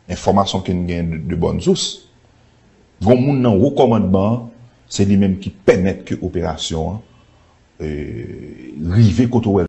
Enfòmasyon ke n gen de bòn sous, gon moun nan wo kòmandman an, se li menm ki pèmèt ke operasyon an rive kote w wè l.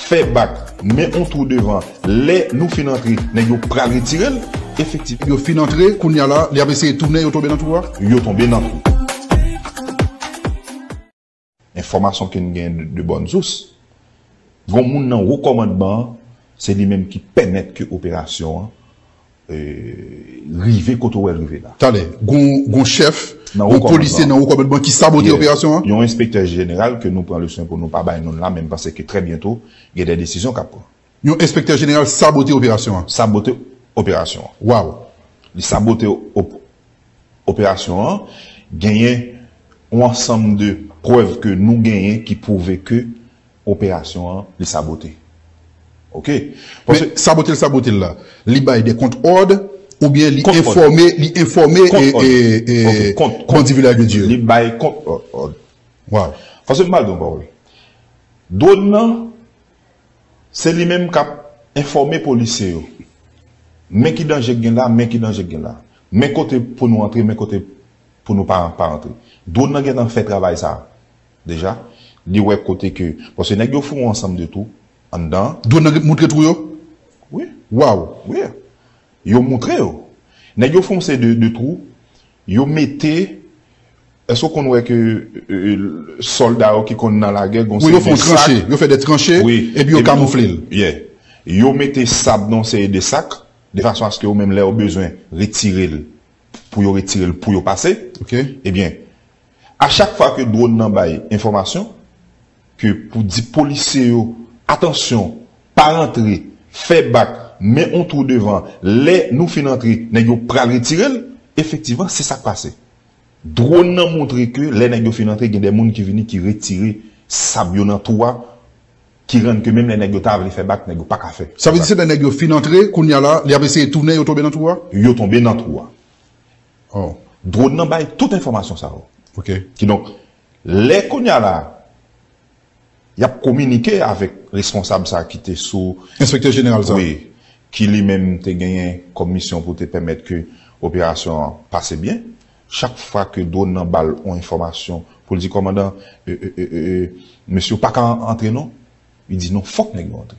Fè bak, men on twou devan, lè Nou fin antre nèg yo pral retirel efektif. Yo fin antre kounya la li ap eseye tounen yo tonbe nan twou a. Yo tonbe nan twou. Enfòmasyon ken gen de bòn sous, gon moun nan wo kòmandman an se li menm ki pèmèt ke operasyon an rive kote wè l rive la. Talè, gon chèf, gon polisye nan wo kòmandman ki sabote operasyon an? Yon enspektè jeneral ke nou pran le swen pou nou pa bay non l la men panse ke trè byento gen de desizyon k ap pran. Yon enspektè jeneral sabote operasyon an? Sabote operasyon an. Waw! Li sabote operasyon an, genyen yon ansanm de prèv ke nou genyen ki pwouve ke Operasyon an li sabote ok paske. Men sabote l sabote l la li bay de kont òd oubyen li enfòme li enfòme bandi vilaj de Dye. Li bay kont òd. Waw. Paske m ba w yon pawòl dwòn nan se li menm k ap enfòme polisye yo men ki danje k gen la men ki danje k gen la men kote pou nou antre men kote pou nou pa antre dwòn nan gentan fè travay sa Deja Li wè kote ke paske nèg yo foure ansanm de tou anndan. Dwon nan ret moutre twou yo? Wi. Waww. Wi. Yo moutre yo. Nèg yo fè yon seri de twou, yo mete Èske ou konn wè ke sòlda yo ki konn nan lagè gon seri de sak? Wi yo fè yon tranche, yo fè de tranche epi yo kamoufle l. Yeah. Yo mete sab nan yon seri de sak de fason aske yo menm lè yo bezwen retire l pou yo retire l pou yo pase ebyen a chak fwa ke dwòn nan bay enfòmasyon ke pou di polisye yo atansyon pa rantre fè bak men yon twou devan lè nou fin antre nèg yo pral retire l efektivman se sak pase dwòn nan montre ke lè nèg yo fin antre gen de moun ki vini ki retire sab yo nan twou a. Ki rann ke menm lè nèg yo ta vle fè bak nèg yo paka fè. Sa vle di se lè nèg yo fin antre kounya la li ap eseye tounen yo tonbe nan twou a? Yo tonbe nan twou a. Oh. Drone nan bay tout enfòmasyon sa yo. Ok. Kidonk, lè kounya la y ap kominike avèk responsab sa ki te sou. Enspektè jeneral sa. Wi. Ki li menm te genyen kòm misyon pou te pèmèt ke operasyon an pase byen. Chak fwa ke drone nan bal on enfòmasyon pou l di kòmandan e e e e mesye ou pa ka antre non li di non fòk nèg yo antre.